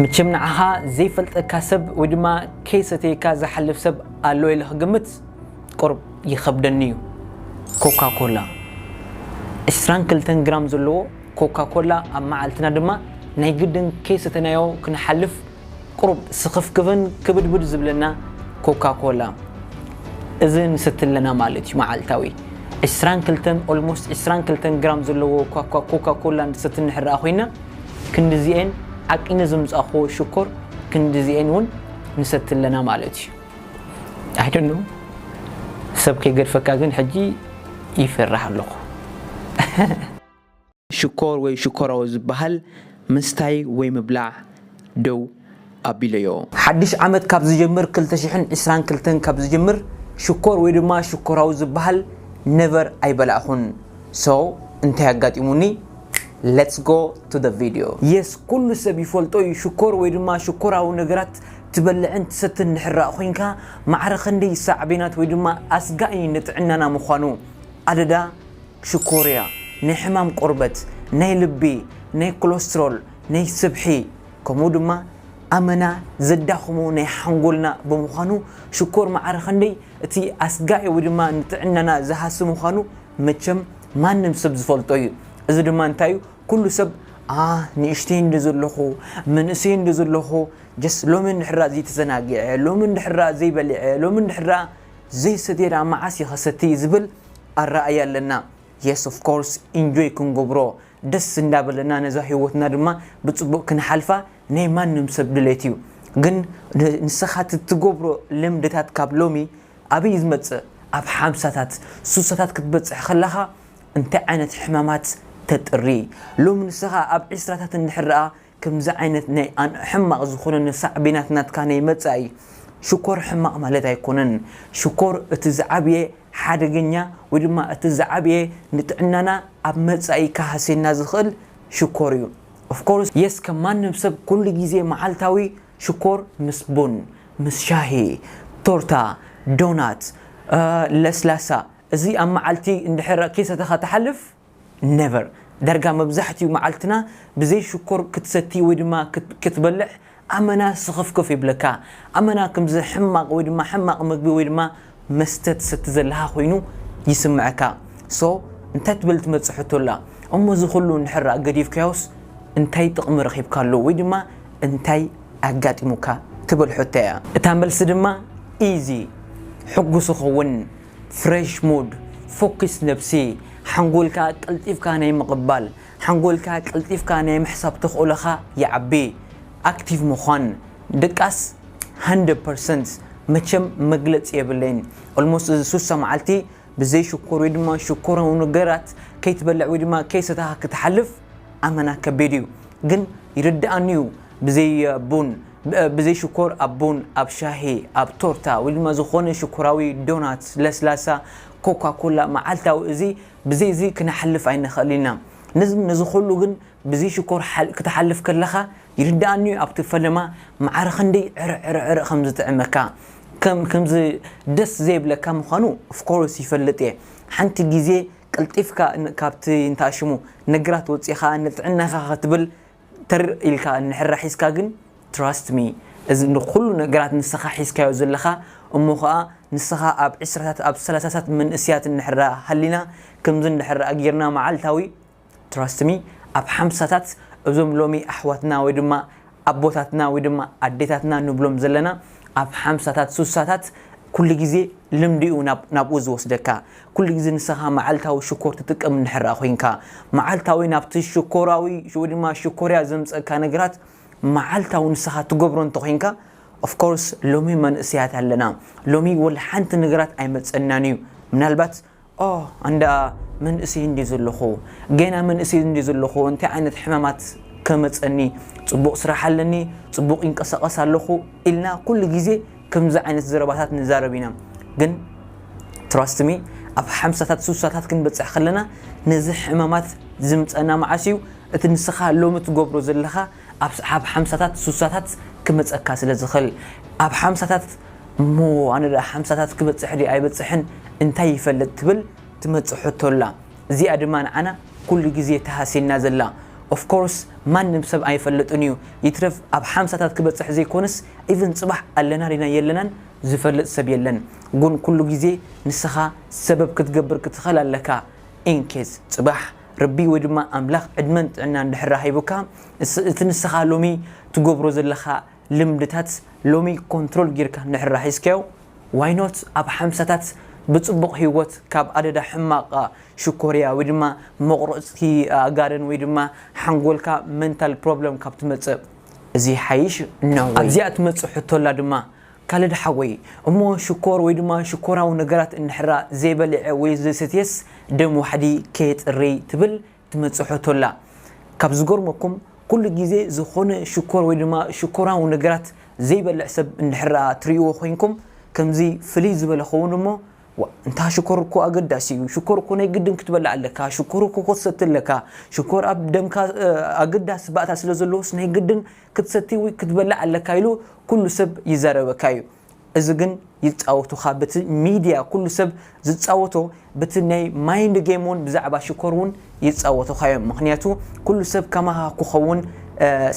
ምችም ንዓኻ ዘይፈልጠካ ሰብ ወይ ድማ ከይሰተየካ ዝሓልፍ ሰብ ኣሎ ኢለ ክግምት ቁሩብ ይኸብደኒ እዩ። ኮካ ኮላ ዕስራን ክልተን ግራም ዘለዎ ኮካ ኮላ ኣብ መዓልትና ድማ ናይ ግድን ከይሰተናዮ ክንሓልፍ ቁሩብ ስኽፍክፍን ክብድብድ ዝብለና ኮካ ኮላ እዚ ንሰቲ ኣለና ማለት እዩ መዓልታዊ ዕስራን ክልተን ኦልሞስት ዕስራን ክልተን ግራም ዘለዎ ኮካ ኮላ ንሰቲ እንሕራኣ ኮይና ክንድዚኤን ዓቂነ ዘምጻኹዎ ሽኮር ክንድዚኤን ውን ንሰቲ ኣለና ማለት ዩ ኣይ ዶንት ኖው ሰብ ከይገድፈካ ግን ሕጂ ይፈርሕ ኣለኹ። ሽኮር ወይ ሽኮራዊ ዝባሃል ምስታይ ወይ ምብላዕ ዶ? ኣቢለዮ። ሓድሽ ዓመት ካብ ዝጀምር ክልተ ሽሕን ዕስራን ክልተን ካብ ዝጀምር ሽኮር ወይ ድማ ሽኮራዊ ዝብሃል never ኣይበላዕኹን so እንታይ ኣጋጢሙኒ let's go to the video። Yes ኩሉ ሰብ ይፈልጦ ዩ ሽኮር ወይ ድማ ሽኮራዊ ነገራት ትበልዕን ትሰትን ድሕራእ ኮይንካ ማዕረ ክንደይ ሳዕቤናት ወይ ድማ ኣስጋኢ ንጥዕናና ምዃኑ ኣደዳ ሽኮርያ ናይ ሕማም ቆርበት ናይ ልቢ ናይ ኮለስትሮል ናይ ስብሒ ከምኡ ድማ ኣመና ዘዳኽሞ ናይ ሓንጎልና ብምዃኑ ሽኮር ማዕረ ኸንደይ እቲ ኣስጋኢ ወይ ድማ ንጥዕናና ዝሃሲ ምዃኑ መቸም ማንም ሰብ ዝፈልጦ እዩ። እዚ ድማ እንታይ እዩ ኩሉ ሰብ ኣህ ንእሽተይ እንዶ ዘለኹ መንእሰይ እንዶ ዘለኹ ጀስ ሎሚ እንድሕራ ዘይተዘናጊዐ ሎሚ እንድሕራ ዘይበሊዐ ሎሚ እንድሕራ ዘይሰትየ ድኣ መዓስ እየ ኸሰቲ ዝብል ኣረኣእያ ኣለና። Yes of course ኢንጆይ ክንገብሮ ደስ እንዳበለና ነዛ ሂወትና ድማ ብጽቡቅ ክንሓልፋ ናይ ማንም ሰብ ድሌት እዩ ግን ንስኻ ትትገብሮ ልምድታት ካብ ሎሚ ኣበይ ዝመጽእ ኣብ ሓምሳታት ሱሳታት ክትበጽሕ ከለኻ እንታይ ዓይነት ሕማማት ተጥሪ ሎሚ ንስኻ ኣብ ዕስራታት እንድሕር ደኣ ክምዚ ዓይነት ናይ ኣን ሕማቅ ዝኮነ ን ሳዕቤናት ናትካ ናይ መጻኢ እዩ ሽኮር ሕማቅ ማለት ኣይኮነን ሽኮር እቲ ዝዓብየ ሓደገኛ ወይ ድማ እቲ ዝዓብየ ንጥዕናና ኣብ መጻኢ ክሃስየና ዝክእል ሽኮር እዩ of course yes ከም ማንም ሰብ ኩሉ ግዜ መዓልታዊ ሽኮር ምስ ቡን ምስ ሻሂ ቶርታ ዶናት ለስላሳ እዚ ኣብ መዓልቲ እንድሕር ከይሰተካ ትሓልፍ Never! ዳርጋ መብዛሕቲኡ መዓልትና ብዘይ ሽኮር ክትሰቲ ወይ ድማ ክትበልዕ ኣመና ስኽፍክፍ ይብለካ። ኣመና ክምዚ ሕማቕ ወይ ድማ ሕማቕ መግቢ ወይ ድማ መስተ ትሰቲ ዘለኻ ኮይኑ ይስምዐካ። So እንታይ ትብል ትመጽእ ሕቶ ኣላ። እሞ እዚ ኩሉ እንድሕራ ገዲፍካዮስ እንታይ ጥቕሚ ረኺብካሉ ወይ ድማ እንታይ ኣጋጢሙካ ትብል ሕቶ እያ። እታ መልሲ ድማ Easy! ሕጉስ እኸውን። ፍሬሽ ሙድ፣ ፎኪስ ነብሲ፣ ሓንጎልካ ቀልጢፍካ ናይ ምቕባል፣ ሓንጎልካ ቀልጢፍካ ናይ ምሕሳብ ተኽእሎኻ ይዓቢ፣ ኣክቲቭ ምዃን፣ ድቃስ ሃንድረድ ፐርሰንት መቸም መግለጺ የብለይን፣ ኦልሞስት እዚ ሱሳ መዓልቲ ብዘይ ሽኮር ወይ ድማ ሽኮራዊ ነገራት ከይትበልዕ ወይ ድማ ከይሰተኻ ክትሓልፍ ኣመና ከቢድ እዩ ግን ይርደኣኒ እዩ ብዘይ ቡን ብዘይ ሽኮር ኣብ ቡን ኣብ ሻሂ ኣብ ቶርታ ወይ ድማ ዝኾነ ሽኮራዊ ዶናት ለስላሳ ኮካ ኮላ መዓልታዊ እዚ ብዘይ እዚ ክነሓልፍ ኣይንኽእል ኢና ነዚ ነዚ ኹሉ ግን ብዘይ ሽኮር ክትሓልፍ ከለኻ ይርድኣኒ እዩ ኣብቲ ፈለማ መዓር ኽንደይ ዕርዕ ዕርዕ ዕርዕ ኸም ዝጥዕመካ ከም ከምዚ ደስ ዘይብለካ ምዃኑ of course ይፈልጥ እየ ሓንቲ ግዜ ቀልጢፍካ ካብቲ እንታይ ሽሙ ነገራት ወጺኻ ንጥዕናኻ ኽትብል ተር ኢልካ እንሕራ ሒዝካ ግን trust me እዚ ንኹሉ ነገራት ንስኻ ሒዝካዮ ዘለኻ እሞ ኸኣ ንስኻ ኣብ ዕስራታት ኣብ ሰላሳታት መንእስያት እንሕራ ሃሊና ከምዚ እንድሕራ ጌርና መዓልታዊ trust me ኣብ ሓምሳታት እዞም ሎሚ ኣሕዋትና ወይ ድማ ኣቦታትና ወይ ድማ ኣዴታትና ንብሎም ዘለና ኣብ ሓምሳታት ሱሳታት ኩሉ ግዜ ልምዲ'ዩ ናብኡ ዝወስደካ ኩሉ ግዜ ንሰኻ መዓልታዊ ሽኮር ትጥቀም እንድሕር ኮይንካ፣ መዓልታዊ ናብቲ ሽኮራዊ ወይ ድማ ሽኮርያ ዘምጸእካ ነገራት መዓልታዊ ንሰኻ ትገብሮ እንተኾይንካ፣ of course ሎሚ መንእሰያት ኣለና፣ ሎሚ ወላ ሓንቲ ነገራት ኣይመጸናን እዩ፣ ምናልባት ኦህ ኣንዳ መንእሰይ እንድየ ዘለኹ፣ ጌና መንእሰይ እንድየ ዘለኹ፣ እንታይ ዓይነት ሕማማት ከመጸኒ፣ ጽቡቕ ስራሕ ኣለኒ፣ ጽቡቕ ይንቀሳቐስ ኣለኹ ኢልና ኩሉ ግዜ ከምዚ ዓይነት ዘረባታት ንዛረብ ኢና ግን Trust me ኣብ ሓምሳታት ሱሳታት ክንበጽሕ ከለና ነዚ ሕማማት ዝምጸና መዓስ ኢዩ እቲ ንስኻ ሎሚ ትገብሮ ዘለኻ ኣብ ሓምሳታት ሱሳታት ክመጸካ ስለ ዝኽል ኣብ ሓምሳታት እሞ ኣነ ድኣ ሓምሳታት ክበጽሕ ድየ ኣይበጽሕን እንታይ ይፈልጥ ትብል ትመጽእ ሕቶ ኣላ እዚኣ ድማ ንዓና ኩሉ ግዜ ትሃስየና ዘላ Of course ማንም ሰብ ኣይፈልጥን ኢዩ ይትረፍ ኣብ ሓምሳታት ክበጽሕ ዘይኮነስ ኢቭን ጽባሕ ኣለና ዲና የለናን ዝፈልጥ ሰብ የለን ጉን ኩሉ ግዜ ንስኻ ሰበብ ክትገብር ክትኸል ኣለካ ኢን ኬዝ ጽባሕ ርቢ ወይ ድማ ኣምላኽ ዕድመን ጥዕናን ድሕራ ሂቡካ እቲ ንስኻ ሎሚ ትገብሮ ዘለኻ ልምድታት ሎሚ ኮንትሮል ጊርካ ንድሕራ ሒዝካዮ ዋይ ኖት ኣብ ሓምሳታት ብጽቡቕ ሂወት ካብ ኣደዳ ሕማቕ ሽኮርያ ወይ ድማ መቑረጽቲ ጋርን ወይ ድማ ሓንጎልካ መንታል ፕሮብለም ካብ ትመጽእ እዚ ይሓይሽ እነሆይ። ኣብዚኣ ትመጽእ ሕቶ ኣላ ድማ ካልድ ሓወይ እሞ ሽኮር ወይ ድማ ሽኮራዊ ነገራት እንድሕራ ዘይበልዔ ወይ ዘይሰትየስ ደም ዋሕዲ ከየጽርይ ትብል ትመጽእ ሕቶ ኣላ ካብ ዝገርመኩም ኩሉ ግዜ ዝኾነ ሽኮር ወይ ድማ ሽኮራዊ ነገራት ዘይበልዕ ሰብ እንድሕራ ትርእይዎ ኮይንኩም ከምዚ ፍልይ ዝበለ ኸውን እሞ ዋእ እንታ ሽኮር እኮ ኣገዳሲ እዩ ሽኮር እኮ ናይ ግድን ክትበልዕ ኣለካ ሽኮር እኮ ክትሰቲ ኣለካ ሽኮር ኣብ ደምካ ኣገዳሲ ባእታ ስለ ዘለዎስ ናይ ግድን ክትሰቲ ወይ ክትበልዕ ኣለካ ኢሉ ኩሉ ሰብ ይዛረበካ እዩ እዚ ግን ይጻወቱካ በቲ ሚድያ ኩሉ ሰብ ዝጻወቶ በቲ ናይ ማይንድ ጌም እውን ብዛዕባ ሽኮር እውን ይጻወቱካ እዮም ምክንያቱ ኩሉ ሰብ ከማካ ክኸውን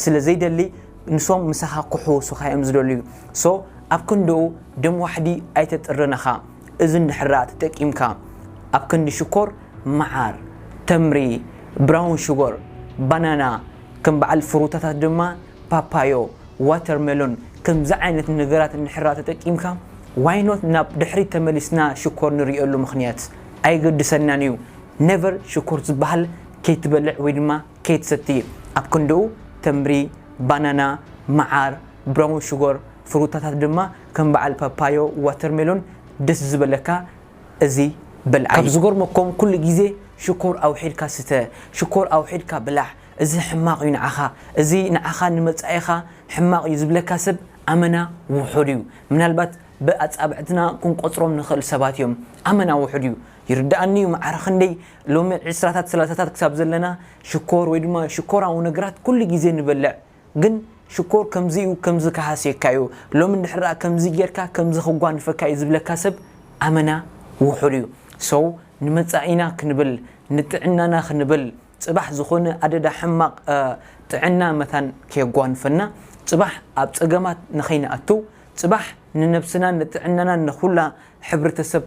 ስለ ዘይደሊ ንሶም ምሳኻ ክሕውሱኻ እዮም ዝደልዩ so ኣብ ክንድኡ ደም ዋሕዲ ኣይተጥርን እኻ እዚ እንድሕር ደኣ ተጠቂምካ ኣብ ክንዲ ሽኮር መዓር ተምሪ ብራውን ሹጎር ባናና ከም በዓል ፍሩታታት ድማ ፓፓዮ ዋተር መሎን ከምዚ ዓይነት ነገራት እንድሕር ደኣ ተጠቂምካ why not ናብ ድሕሪት ተመሊስና ሽኮር ንርእየሉ ምኽንያት ኣየገድሰናን እዩ never ሽኮር ዝበሃል ከይትበልዕ ወይ ድማ ከይትሰቲ ኣብ ክንድኡ ተምሪ፣ ባናና፣ መዓር፣ ብራውን ሽጎር፣ ፍሩታታት ድማ ከም በዓል ፓፓዮ፣ ዋተርሜሎን ደስ ዝበለካ እዚ በልዓዮ። ካብ ዝገርመኩም ኩሉ ግዜ ሽኮር ኣውሒድካ ስተ፣ ሽኮር ኣውሒድካ ብላዕ እዚ ሕማቕ እዩ ንዓኻ፣ እዚ ንዓኻ ንመጻኢኻ ሕማቕ እዩ ዝብለካ ሰብ ኣመና ውሑድ እዩ። ምናልባት ብኣጻብዕትና ክንቆጽሮም ንኽእል ሰባት እዮም። ኣመና ውሑድ እዩ። ይርደኣኒ እዩ መዓር ኽንደይ ሎሚ ዕስራታት ሰላሳታት ክሳብ ዘለና ሽኮር ወይ ድማ ሽኮራዊ ነገራት ኩሉ ግዜ ንበልዕ ግን ሽኮር ከምዚ እዩ ከምዚ ክሃስየካ እዩ ሎሚ እንድሕር ከምዚ ጌርካ ከምዚ ክጓንፈካ እዩ ዝብለካ ሰብ ኣመና ውሑድ እዩ so ንመጻኢና ክንብል ንጥዕናና ክንብል ጽባሕ ዝኾነ ኣደዳ ሕማቕ ጥዕና መታን ከየጓንፈና ጽባሕ ኣብ ጸገማት ንኸይንኣቱ ጽባሕ ንነብስናን ንጥዕናናን ንኹላ ሕብረተሰብ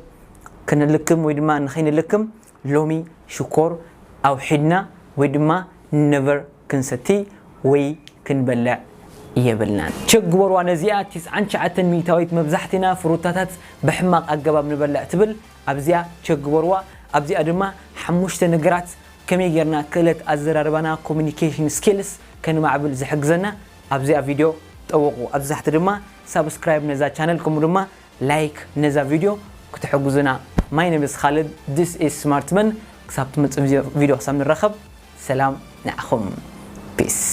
ክንልክም ወይ ድማ ንኸይንልክም ሎሚ ሽኮር ኣውሒድና ወይ ድማ ነቨር ክንሰቲ ወይ ክንበልዕ የብልናን። ቸክ ግበርዋ ነዚኣ ትስዓን ትሽዓተን ሚኢታዊት መብዛሕቲና ፍሩታታት ብሕማቕ ኣገባብ ንበልዕ ትብል ኣብዚኣ ቸክ ግበርዋ። ኣብዚኣ ድማ ሓሙሽተ ነገራት ከመይ ጌርና ክእለት ኣዘራርባና፣ Communication Skills፣ ከንማዕብል ዝሕግዘና ኣብዚኣ ቪድዮ ጠውቑ። ኣብዚ ታሕቲ ድማ ሳብስክራይብ ነዛ ቻነል ከምኡ ድማ ላይክ ነዛ ቪድዮ ክትሕጉዙና ማይ ነብስ ኻልድ this is smart man ክሳብ ትመጽእ ቪድዮ ክሳብ ንራኸብ ሰላም ንዓኹም peace።